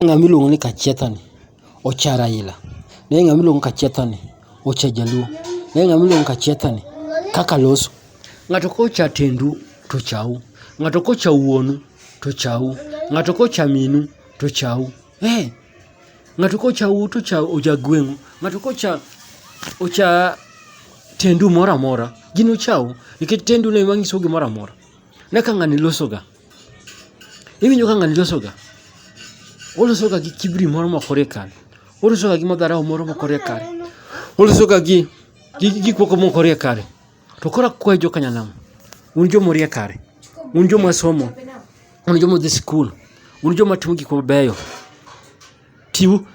Ng'ama iluongo ni Kachietha ni ocha Raila. Ne ng'ama iluongo ni Kachietha ni ocha Jaluo. Ne ng'ama iluongo ni Kachietha ni kaka loso. Ng'ato kocha tendu to ochau. Ng'ato kocha wuonu to ochau. Ng'ato kocha minu to ochau. Eh, ng'ato kocha u to ocha oja gweng'u. Ng'ato kocha ocha tendu moro amora gin uchau nikech tendu no ema nyiso gimoro amora. Ne kaka ng'ani loso ga. Iwinjo ka ng'ani losoga? Olosoga gi kibri moro mokore kare. Olosoga gi madharau moro mokore kare. Olosoga gi gik moko mokore kare. To koro akwayo jo Kanyanam, un joma orie kare, un joma somo, un joma odhi sikul, un joma timo gik mabeyo, Chiwo.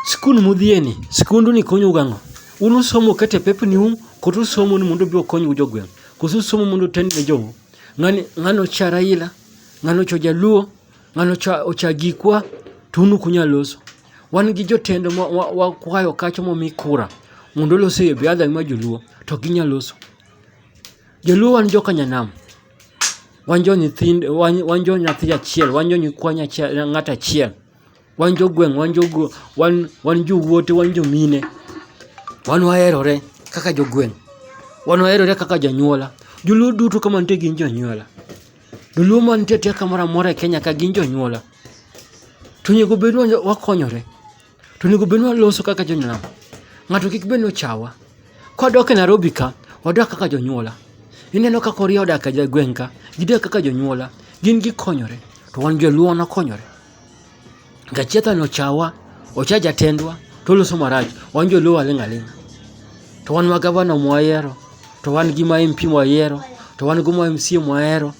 Skul mudhiyeni, skunduni konyou gang'o? Un usomo ukete pepni um, koso usomo ni mondo obi okonywu jogweng'? Koso usomo mondo utent ne jou? Ng'ani, ng'ani ocha Raila, ng'ani ocha Jaluo, ng'ani ocha, ocha Gikwa, to un ukunya loso. Wan gi jotend wakwayo wa, wa kacho momi kura mondo olose e biadha ma joluo, to ginya loso. Joluo wan joka nyanam, wan jo nyithind, wan, wan jo nyathi achiel, wan jo nyikwa ng'at achiel. Wan jogweng' wan jogo wan wan jowuote wan jomine. Wan waherore kaka jogweng', wan waherore kaka jonyuola. Joluo duto ka mantie gin jonyuola. Joluo mantie atia kamora mora e Kenya ka gin jonyuola. To onego bed ni wakonyore, to onego bed ni waloso kaka jonyuola. Ng'ato kik bed ni ochawa. Kwadok e Narobi ka, wadak kaka jonyuola. Ineno ka Kuria odak e gweng' ka, gidak kaka jonyuola. Gin gikonyore, to wan joluo wan wakonyore. Gachietha no chawa, ocha jatendwa, to oloso marach. Wan joluo waling' aling'a. To wan ma gavana mwayiero, to wan gi ma MP mwayiero, to wan gi ma MCA mwayiero,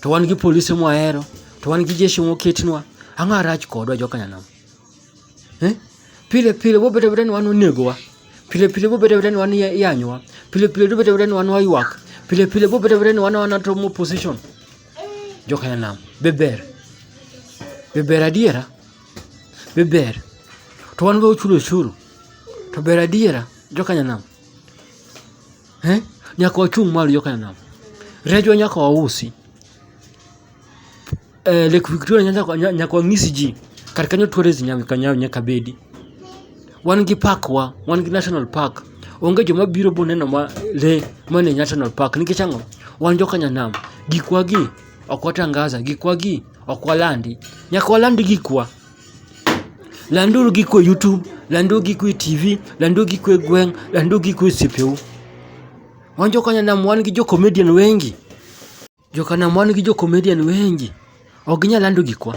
to wan gi polise mwayiero, to wan gi jeshi moketnwa. Ang'o marach kodwa joka nyanam? Eh? Pile pile wabet abeta ni wan onegowa. Pile pile wabet abeta ni wan iyanyowa. Pile pile wabet abeta ni wan waywak. Pile pile wabet abeta ni wan wan to opposition. Jokanyanam, be ber? Be ber adiera? Be ber? To wan be wachulo osuru. To ber adiera jokanyanam? Eh? Nyaka wachung' malo jokanyanam. Rejwa nyaka wausi. Eh, Lake Victoria nyaka wang'isi ji. Kar kanyo tourism nyaka bedi. Wan gi park wa, wan gi national park. Onge joma biro boneno ma le man e national park nikech ang'o? Wan joka nyanam. Gikwa gi ok watangaza, gikwa gi ok walandi. Nyaka waland gikwa. Landuru gikwa e YouTube, landuru gikwa e TV, landuru gikwa e gweng', landuru gikwa e osiepeu. Wan joka nyanam wan gi jo comedian wengi. Jokanam wan gi jo-comedian wengi. Ok ginyal lando gikwa.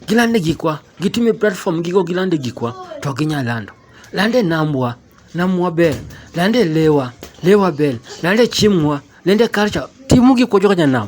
Gilande gikwa. Gitime platform gigo gilande gikwa. To ok ginyal lando. Lande namwa. Namwa ber. Lande lewa. Lewa ber. Lande chiemwa. Lande culture. Timu gikwa jokanam.